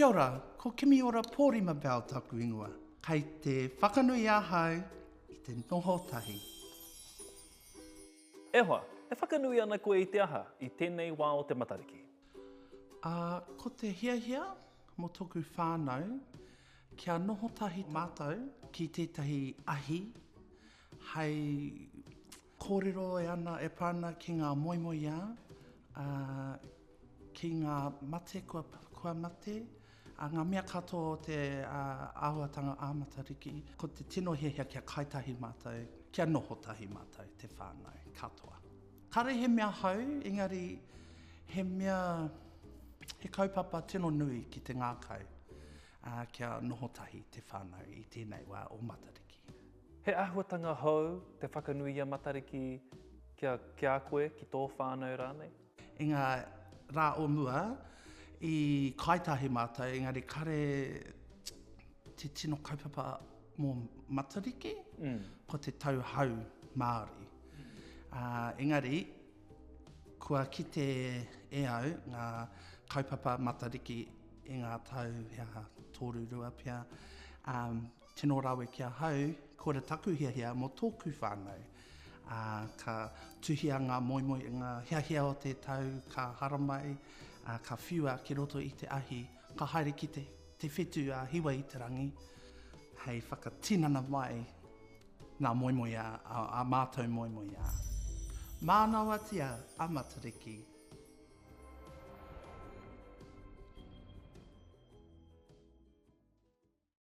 Kia ora, ko Kimiora Pōrima Bell taku ingoa. Kai te whakanui ahau i te noho tahi. E hoa, e whakanui ana koe i te aha i tēnei wā o te Matariki? A, ko te hiahia mo toku whānau kia noho tahi mātou ki tētahi ahi hei Kōrero e ana e pā ana ki ngā moemoeā, ā, ki ngā mate kua, kua mate, ā, ngā mea katoa o te ā, āhuatanga ā Matariki. Ko te tino hiahia kia kai tahi mātou, kia noho tahi mātou, te whānau katoa. Kāre he mea hou, engari he mea, he kaupapa tino nui ki te ngākau, ā, kia noho tahi te whānau i tēnei wā o Matariki. He āhuatanga hou te whakanui i a Matariki kia, ki a koe, ki tō whānau rānei? I ngā rā o mua, i Kāetahi mātou, engari kāre te tino kaupapa mō Matariki, ko te tau hau Māori. Engari, kua kite e au ngā kaupapa Matariki i ngā tau, he aha, tōrurua pea, Tino rawe ki ahau, kore taku hiahia mo toku whanau. A, ka tuhia nga moemoe i nga hiahia o te tau ka haramai, a, ka whiua ki roto i te ahi, ka haere ki te, te whetu a Hiwa-i-te-rangi hei whakatinana mai nga moemoe a, a, a matou moemoe a. Manawatia a Matariki.